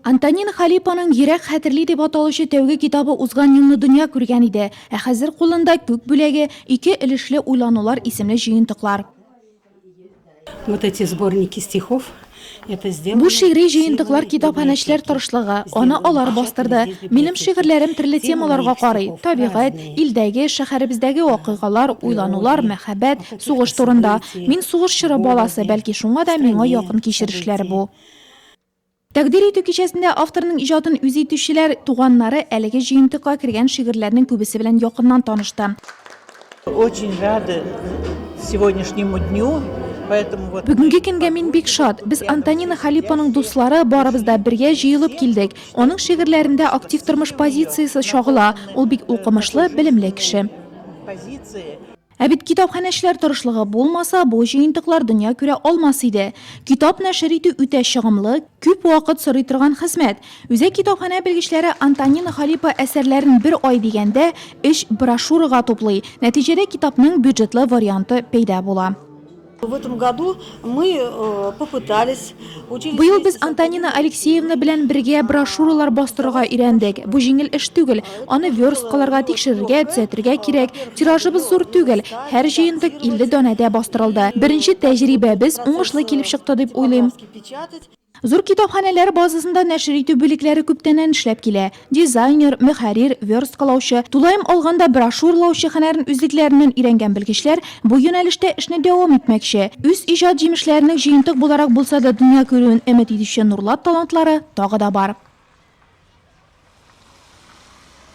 Антонин Халипаның Йөрәк хәтерли дип аталучы тәүге китабы узган елны дөнья күргән иде, ә хәзер кулында Күк бүләге, ике өлешле уйланулар исемле җыентыклар. Вот эти сборники стихов Бу шигъри җыентыклар китапханәчеләр тырышлыгы, аны алар бастырды. Минем шигырьләрем төрле темаларга карый, табигать, илдәге, шәһәребездәге вакыйгалар, уйланулар, мәхәббәт, сугыш турында. Мин сугыш чоры баласы, бәлки шуңа да миңа якын кичерешләр бу. Тәкъдир итү кичәсендә авторның иҗатын үз итүчеләр, туганнары әлеге җыентыкка кергән шигырьләрнең күбесе белән якыннан танышты. Очень рады сегодняшнему дню, поэтому вот. Бүгенге көнгә мин бик шат. Без Антонина Халипаның дуслары барыбыз да бергә җыелып килдек. Аның шигырьләрендә актив тормыш позициясе чагыла. Ул бик укымышлы, белемле кеше. Позиция. Ә бит китапханәчеләр тырышлыгы булмаса, бу җыентыклар дөнья күрә алмас иде. Китап нәшер итү үтә чыгымлы, күп вакыт сорый торган хезмәт. Үзәк китапханә белгечләре Антонина Халипа әсәрләрен бер ай дигәндә өч брошюрага туплый. Нәтиҗәдә китапның бюджетлы варианты пәйда була. Быел без Антонина Алексеевна белән бергә брошюралар бастырырга өйрәндек. Бу җиңел эш түгел. Аны версткаларга, тикшерергә, төзәтергә кирәк. Тиражыбыз зур түгел. Һәр җыентык 50 данәдә бастырылды. Беренче тәҗрибәбез уңышлы килеп чыкты дип уйлыйм. Зур китапханәләр базасында нәшер итү бүлекләре күптәннән эшләп килә. Дизайнер, мөхәррир, версткалаучы, тулаем алганда брошюралаучы һөнәрен үзлекләреннән өйрәнгән белгечләр бу юнәлештә эшне дәвам итмәкче. Үз иҗат җимешләренең җыентык буларак булса да дөнья күрүен өмет итүче нурлат талантлары тагы да бар.